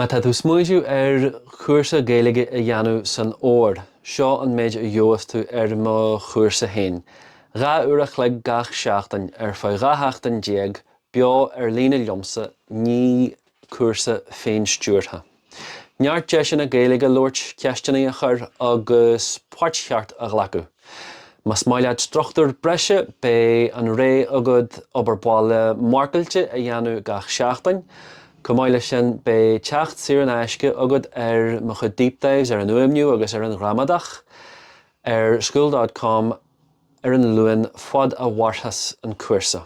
Má tá tú ag smaointiú ar chúrsa Gaeilge a dhéanamh san fhómhar, seo an méid a gheobhas tú ar mo chúrsa fhéin, dhá uair an chloig gach seachtain ar feadh dhá sheachtain déag, beo ar líne liomsa, ní cúrsa féin-stiúrtha. Neart deiseanna Gaeilge a labhairt, ceisteannaí a chur agus páirt cheart a ghlacadh. Más maith leat struchtúr breise, beidh an rogha agat obair bhaile mharcáilte a dhéanamh gach seachtain, Chomh maith leis sin, beidh teacht saor in aisce agat ar mo chuid deep dives ar an fhuaimniú agus ar an ghramadach ar school dot com ar an Luan fad a mhairfeas an cúrsa.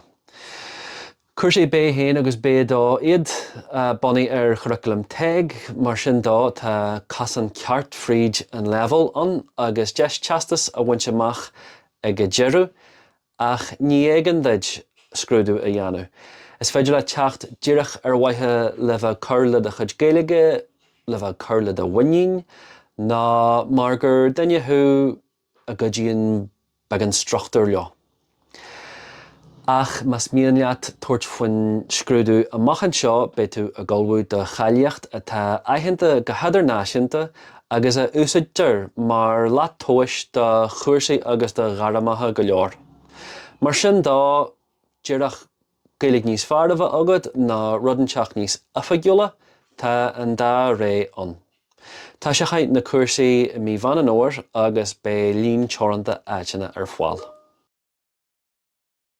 Cúrsaí B1 agus B2 iad, bunaithe ar churaclam TEG, mar sin de tá casán ceart fríd an leibhéal ann agus deis teastas a bhaint amach ag a deireadh. Ach ní héigean duit scrúdú a dhéanamh. Is féidir leat teacht díreach ar mhaithe le bheith ag cur le do chuid Gaeilge, le bheith ag cur le do mhuinín, nó mar gur duine thú a gcuidíonn beagán struchtúir leo. Ach más mian leat tabhairt faoin scrúdú amach anseo, beidh tú ag ullmhú do cháilíocht atá aitheanta go hidirnáisiúnta agus a úsáidtear mar shlat tomhais do chúrsaí agus do ghairmeacha go leor. Mar sin de díreach Gaeilge níos fearr a bheith agat nó rud inteacht níos oifigiúla, tá an dá rogha ann. Toiseochaidh na cúrsaí i mí Mheán Fómhair agus beidh líon teoranta áiteanna ar fáil.